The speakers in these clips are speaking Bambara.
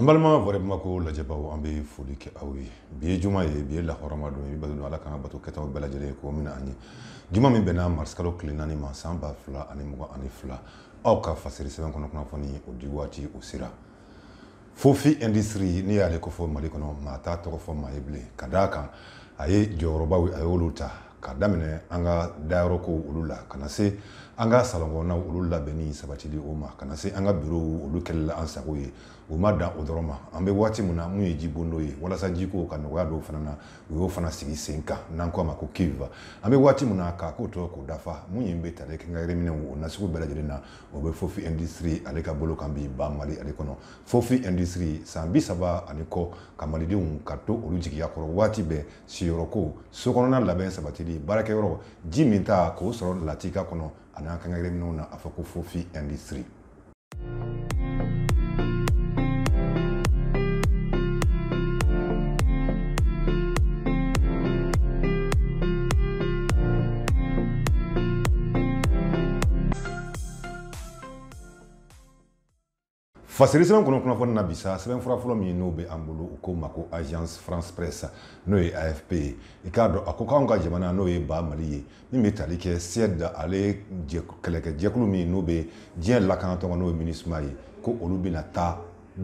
an balima voix de bamako lajɛbaw an bɛ foli kɛ aw ye bi ye juma ye bi ye lahɔrɔma don ye bato don ala k'an ka bato kɛtaw bɛɛ lajɛlen ye k'o minɛ an ye juma min bɛnna marisikalo tile naani ma san ba fila ani mugan ani fila aw ka fasiri sɛbɛn kɔnɔ kunnafoni o di waati o sera fofi industrie n'i y'ale ko fɔ mali kɔnɔ maa t'a tɔgɔ fɔ maa ye bilen ka d'a kan a ye jɔyɔrɔbaw a y'olu ta ka daminɛ an ka dayɔrɔkow olu la ka na se an ka salɔnkɔnɔnaw olu labɛnni sabatili o ma ka na se an ka birow olu kɛli la an sago ye o ma dan o dɔrɔn ma an bɛ waati min na mun ye jibondo ye walasa jiko ka nɔgɔya dɔw fana na u y'o fana sigi sen kan n'an ko a ma ko kiva an bɛ waati min na k'a ko tɔ k'o dafa mun ye bɛ tali kɛ quincaillerie minɛnw o nasugu bɛɛ lajɛlen na o bɛ fofi industrie ale ka bolo kan bi ba mali ale kɔnɔ fofi industrie san bi saba ani kɔ ka malidenw ka to olu jigiya kɔrɔ waati bɛɛ siyɔrɔko sokɔnɔna labɛn sabatili baarakɛyɔrɔ ji minta k'o sɔrɔ latika kɔnɔ ani an quincaillerie minɛnw na a fɔ ko fofi industrie fasiri sɛbɛn kɔnɔ kunnafoni na bi sa sɛbɛn fura fɔlɔ min n'o bɛ an bolo u k'o ma ko agence france presse n'o ye afp ye i k'a dɔn a ko k'anw ka jamana n'o ye ba mali ye min bɛ tali kɛ suède ale kɛlɛkɛ jɛkulu min n'o bɛ diɲɛ lakanatɔn kɔnɔ n'o ye minusma ye ko olu bɛna taa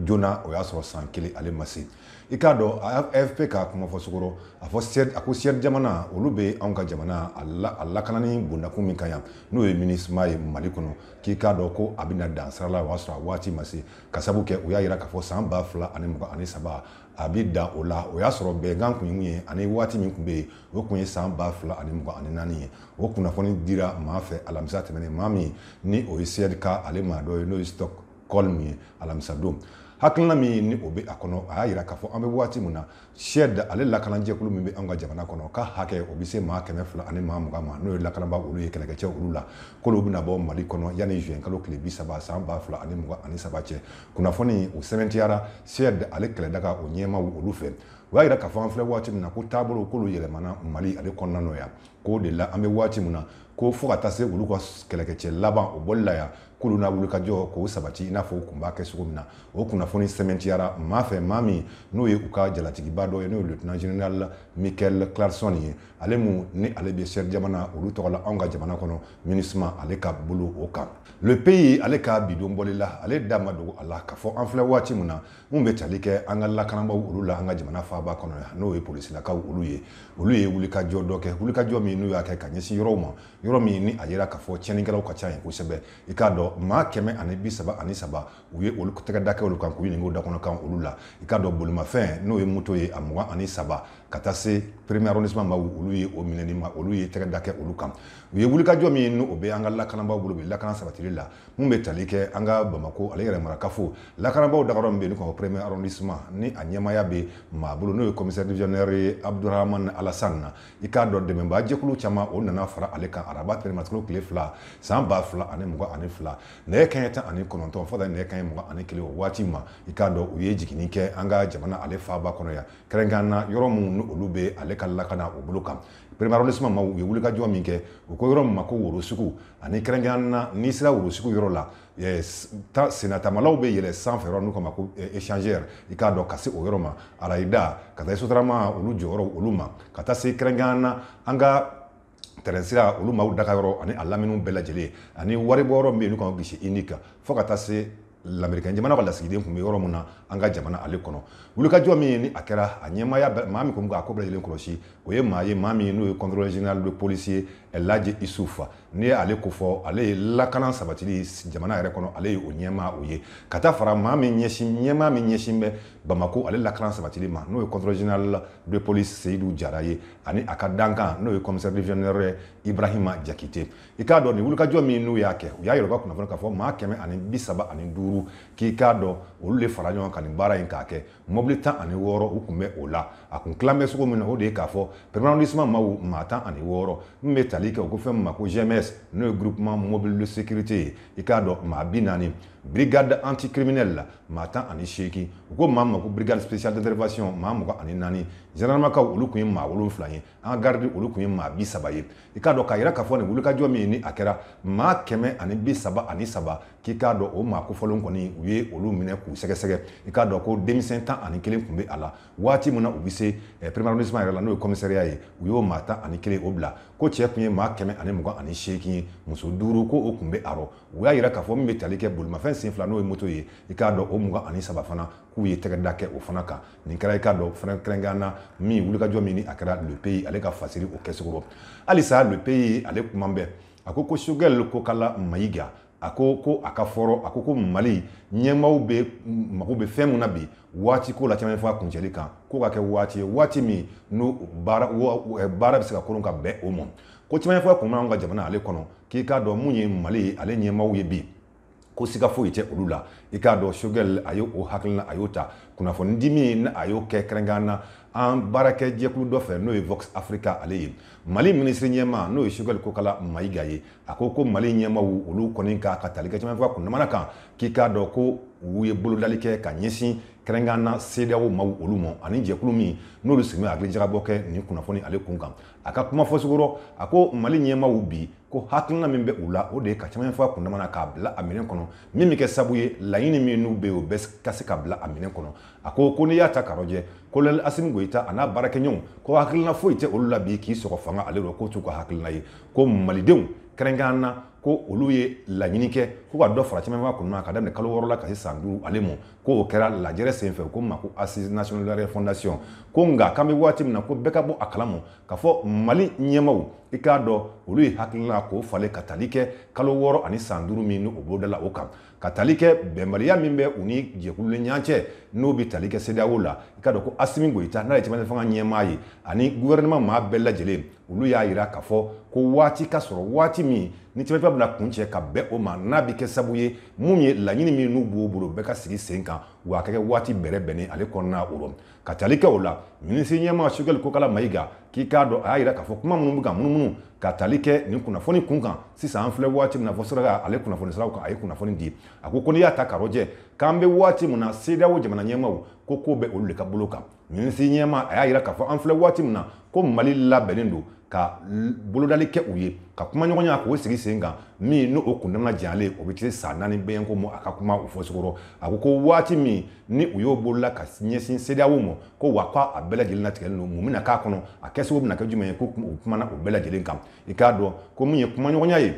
joona o y'a sɔrɔ san kelen ale ma se i k'a dɔn afp ka kuma fɔcogo rɔ a ko suède jamana olu bɛ anw ka jamana a lakanani bondakun min kan yan n'o ye minusma ye mali kɔnɔ k'i k'a dɔn ko a bɛna dan sira la o y'a sɔrɔ a waati ma se ka sabu kɛ u y'a jira k'a fɔ san ba fila ani mugan ani saba a bɛ dan o la o y'a sɔrɔ bɛnkan kun ye mun ye ani waati min tun bɛ yen o tun ye san ba fila ani mugan ani naani ye o kunnafoni dira maa fɛ alamisa tɛmɛnen maa min ni o ye suède ka ale maa dɔ ye n'o ye stock holm ye alamisadon hakilina min ni o bɛ a kɔnɔ a y'a jira k'a fɔ an bɛ waati min na suède ale lakanajɛkulu min bɛ an ka jamana kɔnɔ k'a hakɛ o bɛ se maa kɛmɛ fila ani maa mugan ma n'o ye lakanaba olu ye kɛlɛkɛcɛ olu la k'olu bɛna bɔ mali kɔnɔ yanni juin kalo tile bi saba san ba fila ani mugan ani saba cɛ kunnafoni o sɛmɛntiyara suède ale kɛlɛdaga o ɲɛmaw olu fɛ o y'a jira k'a fɔ an filɛ waati min na ko taabolo k'olu yɛlɛmana mali ale kɔnɔna nɔ yan k'o de la an bɛ waati min na ko fo ka taa se olu ka kɛlɛkɛcɛ laban o bɔli la yan k'olu n'a wulikajɔ k'o sabati i n'a fɔ u kun b'a kɛ cogo min na o kunnafoni sɛmɛntiyara maa fɛ maa min n'o ye u ka jalatigiba dɔ ye n'o ye lieutenant général michael claesson ye ale min ni ale bɛ suède jamana olu tɔgɔ la anw ka jamana kɔnɔ minusma ale ka bolo o kan le pays ale ka bidon bɔli la ale da ma dogo a la k'a fɔ an filɛ waati min na min bɛ tali kɛ an ka lakanabaaw olu la an ka jamana faaba kɔnɔ yan n'o ye polisilakaw olu ye olu ye wulikajɔ dɔ kɛ wulikajɔ min n'u y'a kɛ ka ɲɛsin yɔrɔw ma yɔrɔ min ni a yira k'a fɔ tiɲɛnikɛlaw ka ca yen kosɛbɛ i k'a dɔn maa kɛmɛ ani bi saba ani saba u ye olu tɛgɛda kɛ olu kan k'u ɲininka dakɔnɔkan olu la i k'a dɔn bolimafɛn n'o ye moto ye a mugan ani saba ka taa se premier arrondissement ma olu ye o minɛni ma olu ye tɛgɛda kɛ olu kan u ye wulikajɔ min n'o bɛ an ka lakanabaaw bolo bi lakana sabatili la mun bɛ tali kɛ an ka bamako ale yɛrɛ marakafo lakanabaaw dagayɔrɔ min bɛ yen n'u ka premier arrondissement ni a ɲɛmaaya bɛ maa bolo n'o ye commissaire divisionnaire ye abdurahman alasan na i k'a dɔn dɛmɛbaa jɛkulu caman o nana fara ale kan araba marisikalo tile fila san ba fila ani mugan ani fila nɛgɛ kaɲɛ tan ani kɔnɔntɔn fo ka taa nɛgɛ kaɲɛ mugan ani kelen o waati ma i k'a dɔn u ye jiginni kɛ an ka jamana ale faaba kɔnɔ yan kɛrɛnkɛrɛn na yɔrɔ minnu ni olu bɛ ale ka lakana o bolo kan premier arrondissement ma u ye wulikajɔ min kɛ u ko yɔrɔ min ma ko woro sugu ani kɛrɛnkɛrɛn na n'i sera woro sugu yɔrɔ la sennatamalaw bɛ yɛlɛ sanfɛ yɔrɔ n'u k'a ma ko eh, échangeur i k'a dɔn ka se o yɔrɔ ma arayida ka taa sotarama olu jɔyɔrɔ olu ma ka taa se kɛrɛnkɛrɛn na an ka tɛrɛn sira olu maaw daga yɔrɔ ani a laminiw bɛɛ lajɛlen ani wari bɔ yɔrɔ min bɛ yen n'u k'a ma guichet unique fo ka taa se lamerikɛn jamana ka lasigiden kun bɛ yɔrɔ min na an ka jamana ale kɔnɔ wulikajɔ min ye ni a kɛra a ɲɛmaaya maa min kun bɛ k'a ko bɛɛ lajɛlen kɔlɔsi o ye maa ye maa min n'o ye contrôleur général de police ye laji isufa n'i ye ale ko fɔ ale ye lakana sabatili jamana yɛrɛ kɔnɔ ale ye o ɲɛmaa o ye ka taa fara maa min ɲɛsin ɲɛmaa min ɲɛsin bɛ bamako ale lakana sabatili ma n'o ye contrôleur général de police seyidu jara ye ani a ka dankan n'o ye commissaire divisionnaire ibrahima jakite i k'a dɔn nin wulikajɔ min n'u y'a kɛ u y'a yɛrɛ ka kunnafoni k'a fɔ maa kɛmɛ ani bi saba ani duuru k'i k'a dɔn olu de fara ɲɔgɔn kan nin baara in k'a kɛ mɔbili tan ani wɔɔrɔ u kun bɛ o la a kun tilan bɛ cogo min na o de ye k'a fɔ premier arrondissement maw maa tan ani wɔɔrɔ min bɛ tali kɛ o ko fɛn min ma ko gms n'o ye groupement mobile de sécurité ye i k'a dɔn maa bi naani brigade anticriminelle la maa tan ani seegin u ko maa min ma ko brigade spéciale d'intervention maa mugan ani naani zandaramakaw olu kun ye maa wolonfila ye an ka garidi olu kun ye maa bi saba ye i k'a dɔn k'a yira k'a fɔ nin wulikajɔ min ni a kɛra maa kɛmɛ ani bi saba ani saba k'i k'a dɔn o maa kofɔlen kɔni u ye olu minɛ k'u sɛgɛsɛgɛ i k'a dɔn ko denmisɛn tan ani kelen kun bɛ a la waati min na u bɛ se premier arrondissement yɛrɛ la n'o ye kɔmisariya ye u y'o maa tan ani kelen o bila ko cɛ kun ye maa kɛmɛ ani mugan ani seegin ye muso duuru ko o kun bɛ a rɔ u y'a yira k'a fɔ min bɛ tali kɛ bolimafɛn sen fila n'o ye moto ye i k'a dɔn o mugan ani saba fana k'u ye tɛgɛda kɛ o fana kan nin kɛra i k'a dɔn fana kɛrɛnkɛrɛn na min wulikajɔ min ni a kɛra lepeyi ale ka fasiri o kɛcogo rɔ halisa lepeyi ale kuma bɛɛ a ko ko sogɛli kokala mayiga a ko ko a ka fɔ rɔ a ko ko mali ɲɛmaaw bɛɛ mago bɛ fɛn min na bi waati ko la cɛmancɛ fanga kuncɛli kan ko ka kɛ waati ye waati min n'o baara bɛ se ka kolon ka bɛn o ma ko cɛmancɛ fanga kun b'an ka jamana ale kɔnɔ k'i k'a dɔn mun ye mali ale ɲɛmaaw ye bi ko siga foyi tɛ olu la i k'a dɔn sogɛl a ye o hakilina a y'o ta kunnafoni di min a y'o kɛ kɛrɛnkɛrɛn na an baarakɛ jɛkulu dɔ fɛ n'o ye vox africa ale ye mali minisiri ɲɛma n'o ye sogɛl kokala mayiga ye a ko ko mali ɲɛmaw olu kɔni ka ka tali kɛ cɛmancɛ fanga kundamana kan k'i k'a dɔn ko u ye bolodali kɛ ka ɲɛsin kɛrɛnkɛrɛn na sedeyawo maaw olu ma ani jɛkulu min n'olu sigilen bɛ hakili jagabɔ kɛ nin kunnafoni ale kun kan a ka kuma fɔcogo rɔ a ko mali ɲɛmaw bi ko hakilina min bɛ u la o de ye ka cɛmancɛ fanga kundamana k'a bila a minɛn kɔnɔ min bɛ kɛ sabu ye laɲini min n'u bɛ yen o bɛɛ ka se ka bila a minɛn kɔnɔ a ko ko n'i y'a ta k'a lajɛ kolonɛli asimi goyita a n'a baarakɛɲɔgɔnw ko hakilina foyi tɛ olu la bi k'i sɔgɔ fanga ale rɔ k'o t'u ka hakilina ye ko malidenw kɛrɛnkɛrɛn na ko olu ye laɲini kɛ ko ka dɔ fara cɛmancɛ fanga kundamana ka daminɛ kalo wɔɔrɔ la ka se san duuru ale ma ko o kɛra lajɛrɛ senfɛ ko ma ko assise nationale de la refondation ko nka k'an bɛ waati min na ko bɛɛ ka bɔ a kalama k'a fɔ mali ɲɛmaw i k'a dɔn olu ye hakilina k'o falen ka tali kɛ kalo wɔɔrɔ ani san duuru min ni o bolodala o kan ka tali kɛ bɛnbaliya min bɛ u ni jɛkulu ni ɲɔgɔn cɛ n'o bɛ tali kɛ sedeyawo la i k'a dɔn ko asimi goyita n'ale ye cɛmancɛ fanga ɲɛmaa ye ani guvɛrɛnɛma maa bɛɛ lajɛlen olu y'a yira k'a fɔ ko waati ka sɔrɔ waati min ni cɛmancɛ fanga bɛna kuncɛ ka bɛn o ma n'a bɛ kɛ sabu ye mun ye laɲini min n'u b'o bolo bɛɛ ka sigi sen kan wa a ka kɛ waati bɛrɛ bɛnnen ale kɔnɔna o rɔ ka tali kɛ o la minisiri ɲɛma sogɛli kokala mayiga k'i k'a dɔn a y'a yira k'a fɔ kuma minnu bɛ ka munumunu ka tali kɛ nin kunnafoni kun kan sisan an filɛ waati min na vox africa ale kunnafoni siraw kan a ye kunnafoni di a ko ko n'i y'a ta k'a rɔjɛ k'an bɛ waati min na sedeyawo jamana ɲɛmaw ko ko bɛ olu de ka bolo kan minisiri ɲɛma a y'a yira k'a fɔ an filɛ waati min na ko mali labɛnnen don ka bolodali kɛ u ye ka kumaɲɔgɔnya k'o sigi sen kan min n'o o kundama janyalen o bɛ tile san naani bɛyɛnko ma a ka kuma o fɔcogo rɔ a ko ko waati min ni u y'o bolola ka ɲɛsin sedeyawo ma ko wa ko a bɛɛ lajɛlen latigɛlen don mun bɛna k'a kɔnɔ a kɛcogo bɛna kɛ jumɛn ye ko u kumana o bɛɛ lajɛlen kan i k'a dɔn ko min ye kumaɲɔgɔnya ye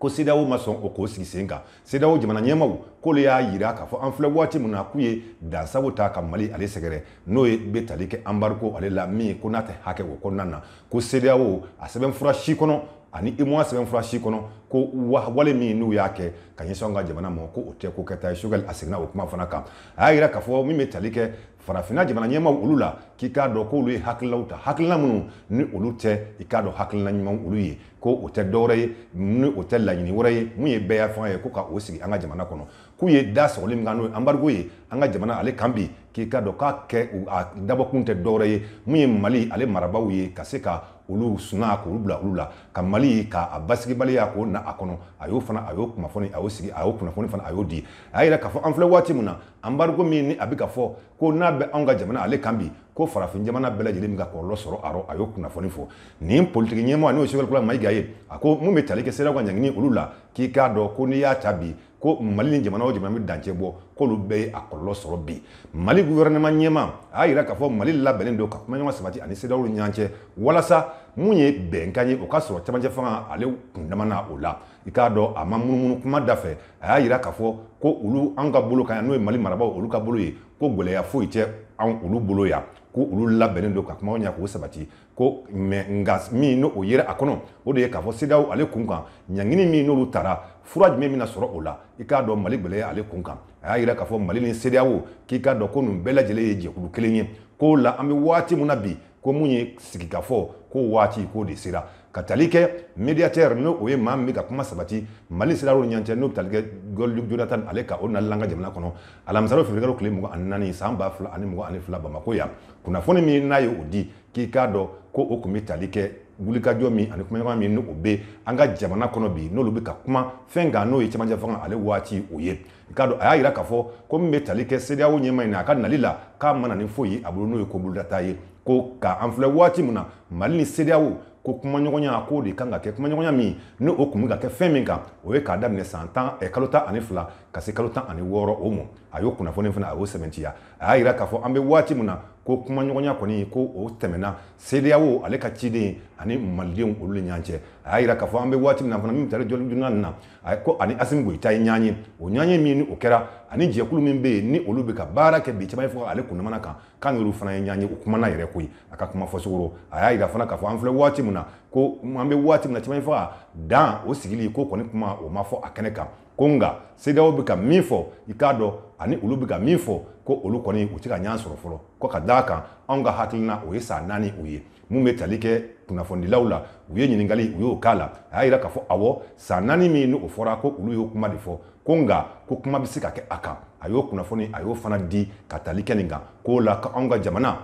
ko sedeyawo ma sɔn o k'o sigi sen kan sedeyawo jamana ɲɛmaw k'olu y'a yira k'a fɔ an filɛ waati min na k'u ye dansago ta ka mali ale sɛgɛrɛ n'o ye bɛ tali kɛ anbariko ale la min ko n'a tɛ hakɛ o kɔnɔna na ko CEDEAO a sɛbɛnfura si kɔnɔ ani UEMOA sɛbɛnfura si kɔnɔ ko wale min n'u y'a kɛ ka ɲɛsin an ka jamana ma ko o tɛ ko kɛta ye Choguel a seginna o kuma fana kan a y'a yira k'a fɔ min bɛ tali kɛ farafinna jamana ɲɛmaaw olu la k'i k'a dɔn k'olu ye hakililaw ta hakilina minnu ni olu tɛ i k'a dɔn hakilina ɲumanw olu ye ko o tɛ dɔwɛrɛ ye ni o tɛ laɲini wɛrɛ ye mun ye bɛɛyafanga ye ko ka o sigi an ka jamana kɔnɔ k'u ye da sɔgɔli min kan n'o ye anbarigo ye an ka jamana ale kan bi k'i k'a dɔn k'a kɛ a dabɔkun tɛ dɔwɛrɛ ye mun ye mali ale marabaaw ye ka se ka olu suna k'olu bila olu la ka mali k'a basigibaliya k'o na a kɔnɔ a y'o fana a y'o kunnafoni a y'o sigi a y'o kunnafoni fana a y'o di a y'a yira k'a fɔ an filɛ waati min na anbarigo min ni a bɛ ka fɔ ko n'a bɛ anw ka jamana ale kan bi ko farafin jamana bɛɛ lajɛlen bɛ ka kɔlɔlɔ sɔrɔ a rɔ a y'o kunnafoni fɔ nin politiki ɲɛmɔgɔ n'o ye sɔgɛli kokala mayiga ye a ko mun bɛ tali kɛ sedeyawo ka ɲangini olu la k'i k'a dɔn ko n'i y'a ta bi ko mali ni jamana o jamana bɛ dancɛ bɔ k'olu bɛɛ ye a kɔlɔlɔ sɔrɔ bi mali guvɛrɛnɛma ɲɛmaa a y'a yira k'a fɔ mali labɛnnen don ka kumaɲɔgɔn sabati ani sedeyawo ni ɲɔgɔn cɛ walasa mun ye bɛnkan ye o ka sɔrɔ camancɛ fanga ale kundama na o la i k'a dɔn a ma munumunu kuma da fɛ a y'a yira k'a fɔ ko olu an ka bolo kan yan n'o ye mali marabaaw olu ka bolo ye ko gɛlɛya foyi tɛ an olu bolo yan ko olu labɛnnen don ka kumaɲɔgɔnya k'o sabati ko mɛ nka min n'o yera a kɔnɔ o de ye k'a fɔ sedeyawo ale kun kan ɲangini min n'olu tara fura jumɛn bɛna sɔrɔ o la i k'a dɔn mali gɛlɛya ale kun kan a y'a yira k'a fɔ mali ni sedeyawo k'i k'a dɔn ko nin bɛɛ lajɛlen ye jɛkulu kelen ye k'o la an bɛ waati min na bi ko mun ye sigikafɔ ko waati k'o de sera ka tali kɛ mediatɛr n'o o ye maa min bɛ ka kuma sabati mali sedeyawo ni ɲɔgɔn cɛ n'o bɛ tali kɛ goodluck jonathan ale ka o nali an ka jamana kɔnɔ alamisadon fewuruyekalo tile mugan ani naani san ba fila ani mugan ani fila bamako yan kunnafoni min n'a ye o di k'i k'a dɔn ko o tun bɛ tali kɛ wulikajɔ min ani kumaɲɔgɔn min ni o bɛ an ka jamana kɔnɔ bi n'olu bɛ ka kuma fɛn kan n'o ye cɛmancɛ fanga ale waati o ye i k'a dɔn a y'a yira k'a fɔ ko min bɛ tali kɛ CEDEAO ɲɛmaa in na a ka nali la k'a ma na ni foyi ye a bolo n'o ye ko bolodata ye ko ka an filɛ waati min na Mali ni CEDEAO ko kumaɲɔgɔnya k'o de kan ka kɛ kumaɲɔgɔnya min ni o tun bɛ ka kɛ fɛn min kan o ye k'a daminɛ san tan eh, kalo tan ani fila ka se kalo tan ani wɔɔrɔ o mɔ a y'o kunnafoni fana a y'o sɛbɛntiya a y'a yira k'a fɔ an bɛ waati min na ko kumaɲɔgɔnya kɔni ko o tɛmɛna sedeyawo ale ka ciden ani malidenw olu ni ɲɔgɔn cɛ a y'a yira k'a fɔ an bɛ waati min na fana min taara jɔlidunna nin na a ko ani asimi goyita ye ɲɔgɔn ye o ɲɔgɔn ye min ni o kɛra ani jɛkulu min bɛ yen ni olu bɛ ka baara kɛ bi camancɛ fanga ale kundamana kan k'a n'olu fana ye ɲɔgɔn ye o kumana yɛrɛ koyi a ka kuma fɔ senkɔrɔ a y'a yira fana k'a fɔ an filɛ waati min na ko an bɛ waati min na camancɛ fanga dan o sigili ko kɔni kuma o ma fɔ a kɛnɛ kan ko nka sedeyawo bɛ ka min fɔ i k'a dɔn ani olu bɛ ka min fɔ ko olu kɔni u tɛ ka ɲɔgɔn sɔrɔ fɔlɔ ko ka d'a kan anw ka hakilina o ye san naani o ye mun bɛ tali kɛ kunnafonidilaw la u ye ɲininkali u y'o k'a la a y'a yira k'a fɔ awɔ san naani min n'o fɔra ko olu y'o kuma de fɔ ko nka ko kuma bɛ se ka kɛ a kan a y'o kunnafoni a y'o fana di ka tali kɛ nin kan k'o la ko anw ka jamana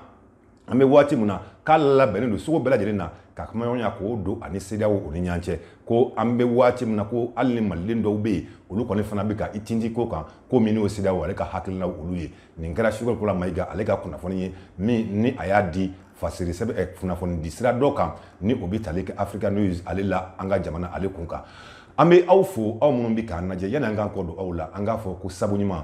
an bɛ waati min na k'a labɛnnen don cogo bɛɛ lajɛlen na ka kumaɲɔgɔnya k'o don a ni cedeao o ni ɲɔgɔn cɛ ko an bɛ waati min na ko hali ni maliden dɔw bɛ yen olu kɔni fana bɛ ka i tinti ko kan ko min n'o cedeao ale ka hakilinaw olu ye nin kɛra sogɛli kokala mayiga ale ka kunnafoni ye min ni a y'a di fasiri sɛbɛn eh, kunnafoni di sira dɔ kan ni o bɛ tali kɛ africa news ale la an ka jamana ale kun kan an bɛ aw fo aw minnu bɛ k'an lajɛ yanni an k'an kɔ don aw la an k'a fɔ ko sabu ɲuman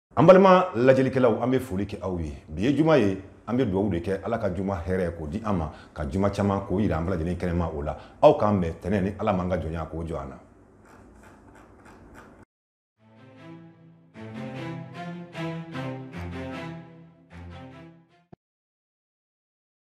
an balima lajɛlikɛlaw an bɛ foli kɛ aw ye bi ye juma ye an bɛ dugawu de kɛ ala ka juma hɛrɛ k'o di an ma ka juma caman k'o yira an bɛɛ lajɛlen kɛnɛma o la aw k'an bɛn tɛnɛ ni ala m'an ka jɔnya k'o jɔ an na